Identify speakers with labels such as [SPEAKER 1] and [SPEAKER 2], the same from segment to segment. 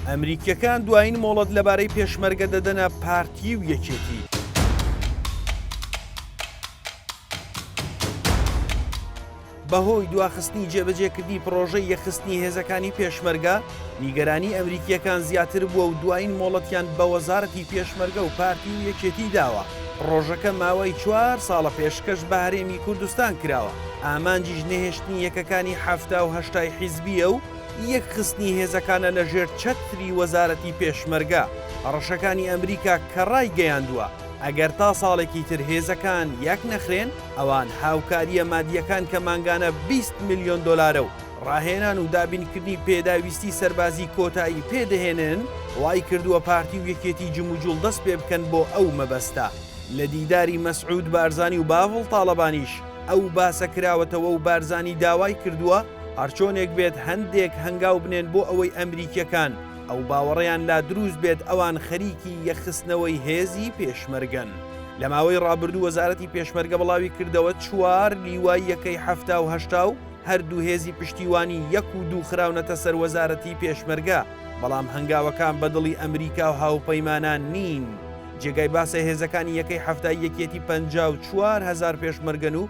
[SPEAKER 1] ئەمریکیەکان دوایین مۆڵەت لەبارەی پێشمەرگە دەدەنە پارتی و یەکێتی. بەهۆی دواخستنی جێبەجێکردنی پڕۆژەی یەخستنی هێزەکانی پێشمەرگە نیگەرانی ئەمریکیەکان زیاتر بووە و دوایین مۆڵەتیان بە وەزارەتی پێشمەرگە و پارتی و یەکێتی داوە پڕۆژەکە ماوەی چوار ساڵە پێشکەش بە هەرێمی کوردستان کراوە ئامانجیش نەهێشتنی یەکەکانی حەفتا و هەشتای حیزبیە و یەکخستنی هێزەکانە لە ژێر چەتری وەزارەتی پێشمەرگە، هەڕەشەکانی ئەمریکا کە ڕایگەیاندووە ئەگەر تا ساڵێکی تر هێزەکان یەک نەخرێن ئەوان هاوکارییە مادییەکان کە مانگانە بیست ملیۆن دۆلارە و ڕاهێنان و دابینکردنی پێداویستی سەربازی کۆتایی پێدەهێنن، وایکردووە پارتی و یەکێتی جموجوڵ دەست پێ بکەن بۆ ئەو مەبەستە. لە دیداری مەسعود بارزانی و باڤڵ تاڵەبانیش ئەو باسە کراوەتەوە و بارزانی داوای کردووە، هەرچۆنێک بێت هەندێک هەنگاو بنێن بۆ ئەوەی ئەمریکیەکان ئەو باوەڕەیان لا دروست بێت ئەوان خەریکی یەکخستنەوەی هێزی پێشمەرگەن. لە ماوەی ڕابردوو وەزارەتی پێشمەرگە بڵاوی کردەوە چوار لیوای یەکەی حەفتا و هەشتا و هەر دوو هێزی پشتیوانی یەک و دوو خراونەتە سەر وەزارەتی پێشمەرگە بەڵام هەنگاوەکان بە دڵی ئەمریکا و هاوپەیمانان نین. جێگای باسە هێزەکانی یەکەی حەفتای یەکیەتی پەنجا و چوار هەزار پێشمەرگەن و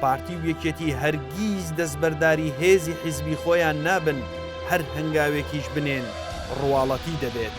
[SPEAKER 1] پارتی و یەکێتی هەرگیز دەستبەرداری هێزی حیزبی خۆیان نابن، هەر هەنگاوێکیش بنێن ڕواڵەتی دەبێت.